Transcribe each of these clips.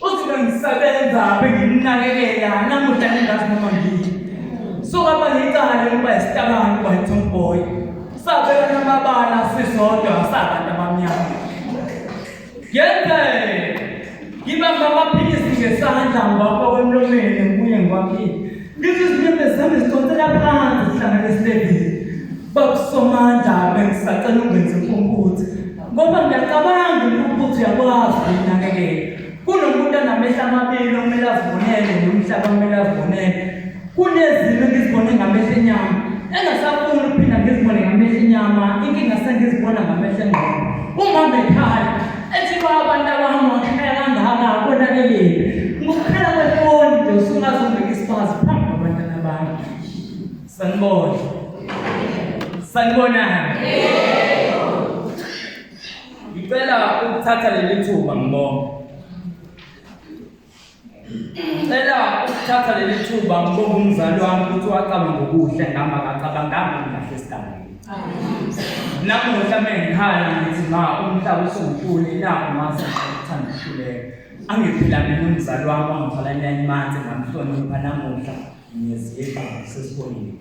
Usuke ngisebenza benginakekela namuhla nengathi noma ngiyini. So baba ngicala ukuba isitabani kwa Tomboy. Sabela namabala sisodwa sabantu abamnyama. Yenze ngibamba amaphilisi ngesandla ngibamba kwemlomeni ngibuye ngiwaphile. Ngithi izinyembezi zami zidonsela phansi zihlanganisile. Babusomandla bengisacela ungenze impumputhe ngoba ngiyacabanga impumputhe yakwazi ukunakekela. Kunomuntu anamehla amabili okumele azibonele nomhlaba okumele azibonele. Kunezimo engizibone ngamehla enyama engasafuni ukuphinda ngizibone ngamehla enyama inkinga sengizibona ngamehla engqondo. Uma bekhala ethi baba ntabami wakhaya kangaka konakeleni ngokuphela kwefoni nje usungazongeka isifazi Sanibona. Sanibonani. Ngicela ukuthatha leli thuba ngibonge. Ngicela ukuthatha leli thuba ngibonge umzali wami ukuthi wacabanga ngokuhle ngami akacabanganga ngahle esigabeni. Namuhla mengikhala ngithi ma umhlaba usungitshule nakho mase ngithanda ukuhluleka. Angiphila mina umzali wami wangithola enyanyimanje ngamhlonipha namuhla. Ngiyaziyeka sesibonile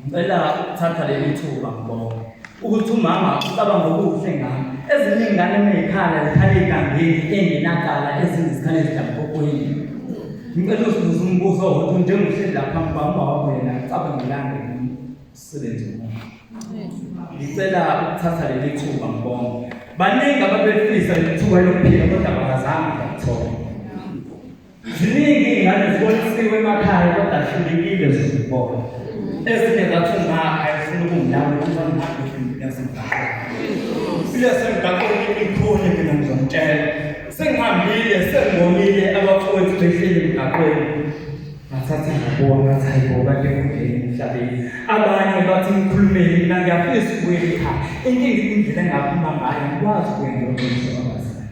ngicela ukuthatha leli thuba ngibonga ukuthi umama ucabanga okuhle ngami ezinye ingane meyikhala zikhale igangeni engenakala ezinye zikhale zidlampokwini ngicela usibuza umbuzo wokuthi njengohleli lapha phambi kwami uba wakho yena ucabangelani ngomsebenzi womuntu ngicela ukuthatha leli thuba ngibonga baningi ababefisa leli thuba lokuphila kodwa bakazange bakuthola Ziningi ingane zibonisiwe emakhaya kodwa hlulekile zizibona. Ezinye zathi ngakha efuna ukungilawa ukuthi angihambe ngiyazibhala. Ile semgaqweni imikhulu mina ngizomtshela. Sengihambile sengibonile abafowethu behleli emgaqweni. Ngathatha ngabona ngathi hayi bo kade kungena emhlabeni. Abanye bathi ngikhulumele mina ngiyafisa ukuya ekhaya. Inkinga indlela engaphuma ngayo ngikwazi ukuya ngiyogcina